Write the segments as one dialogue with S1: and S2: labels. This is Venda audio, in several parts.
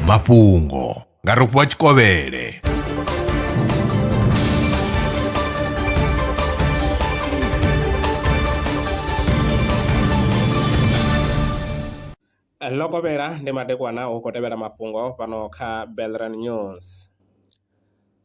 S1: mafhungo nga rofhiwa tshikovhele
S2: ḽo kovhela ndi madekwana hu khou tevhela mafhungo fhano kha belran news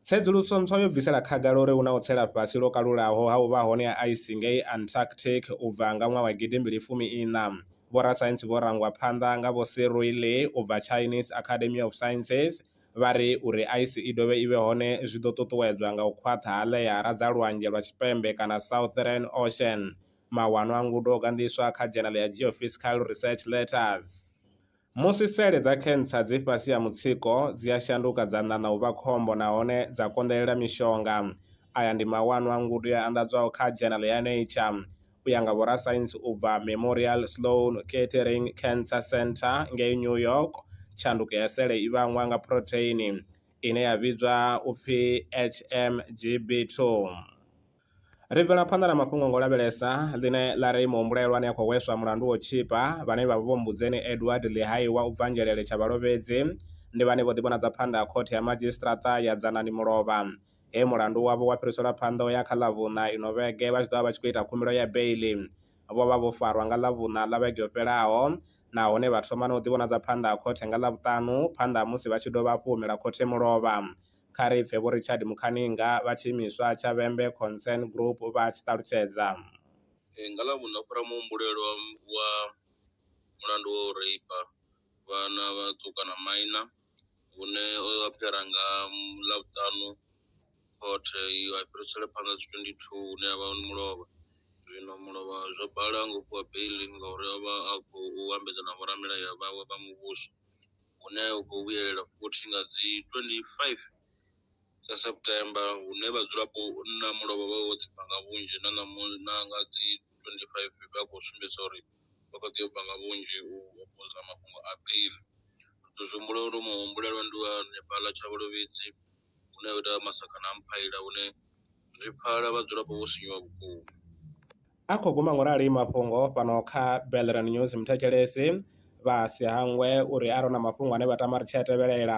S2: Tsedzuluso ntswa yo bvisela khagala uri hu na u tsela fhasi lwo kalulaho ha u vha hone ha aisi ngei Antarctic u bva nga ṅwaha wa gidi mbili fumi iṋa. Vhorasaintsi vho rangwa phanḓa nga Vho Sirui Li u bva Chinese Academy of Sciences vha ri uri aisi i dovhe i vhe hone zwi ḓo ṱuṱuwedzwa nga u khwaṱha ha ḽeara dza Lwanzhe lwa Tshipembe kana Southern Ocean. Mawanwa a ngudo o ganḓiswa kha dzhenala ya Geophysical Research Letters. Musi sele dza khentsa dzi fhasi ha mutsiko, dzi a shanduka dza ṋaṋa u vha khombo nahone dza konḓelela mishonga. Aya ndi mawanwa a ngudo yo anḓadzwaho kha dzhenele ya Nature. U ya nga vhorasaintsi u bva Memorial Sloan Kettering Cancer Center ngei New York, tshanduko ya sele i vhangwa nga phurotheini ine ya vhidzwa u pfi HMGB2. Ri bvela phanḓa na mafhungo nga u lavhelesa ḽine ḽa ri Muhumbulelwa ane a khou hweswa mulandu wa u tzhipa vhane vha vha Vho Mbudzeni Edward Ḽihaiwa u bva Nzhelele tsha Vhalobedzi ndi vhane vho ḓivhonadza phanḓa ha Khothe ya Madzhisiṱiraṱa ya Dzanani Mulovha he mulandu wavho wa fhiriselwa phanḓa u ya kha Ḽavhuṋa ino vhege vha tshi ḓo vha vha tshi khou ita khumbelo ya beiḽi. Vho vha vho farwa nga Ḽavhuṋa ḽa vhege yo fhelaho nahone vha thoma na u ḓivhonadza phanḓa ha khothe nga Ḽavhuṱanu phanḓa ha musi vha tshi dovha hafhu humela khothe mulovha. Kha ri pfe Vho Richard Mukhaninga vha tshi imiswa tsha Vhembe Concern Group vha tshi ṱalutshedza. Nga
S3: Ḽavhuṋa ho fhira muhumbulelwa wa mulandu wa u reipa vhana vha ṱukana maina une o a fhira nga Ḽavhuṱanu khothe iyo a fhirisele phanḓa dzi 22 une avha hone mulovha zwino mulovha zwo bala ngo fhiwa beiḽi ngauri ovha a khou ambedzana vho ramilayo vhawe vha muvhuso hune u khou vhuyelela futhi nga dzi 25 dza September hune vhadzulapo na mulovha vha vho ḓibva nga vhunzhi na ṋamusi na nga dzi 25 vha khou sumbedza uri vha kho ḓi bva nga vhunzhi u opoza mafhungo a bail. Ri ḓo zwi humbula uri muhumbulelwa ndi wa hanefhaḽa Tshavha Luvhidzi. hune ho itewa masakha na mphaila hune zwi pfala vhadzulapo vho sinyuwa vhukuma. A
S2: khou guma ngo rali mafhungo fhano kha Bellerin News muthetshelesi vha si hangwe uri arali hu na mafhungo ane vha tama ri tshi a tevhelela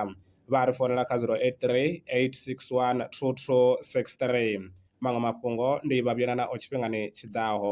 S2: vha ri founela kha 083 861 2263. Maṅwe mafhungo ndi vha vhuyelana nao tshifhingani tshi ḓaho.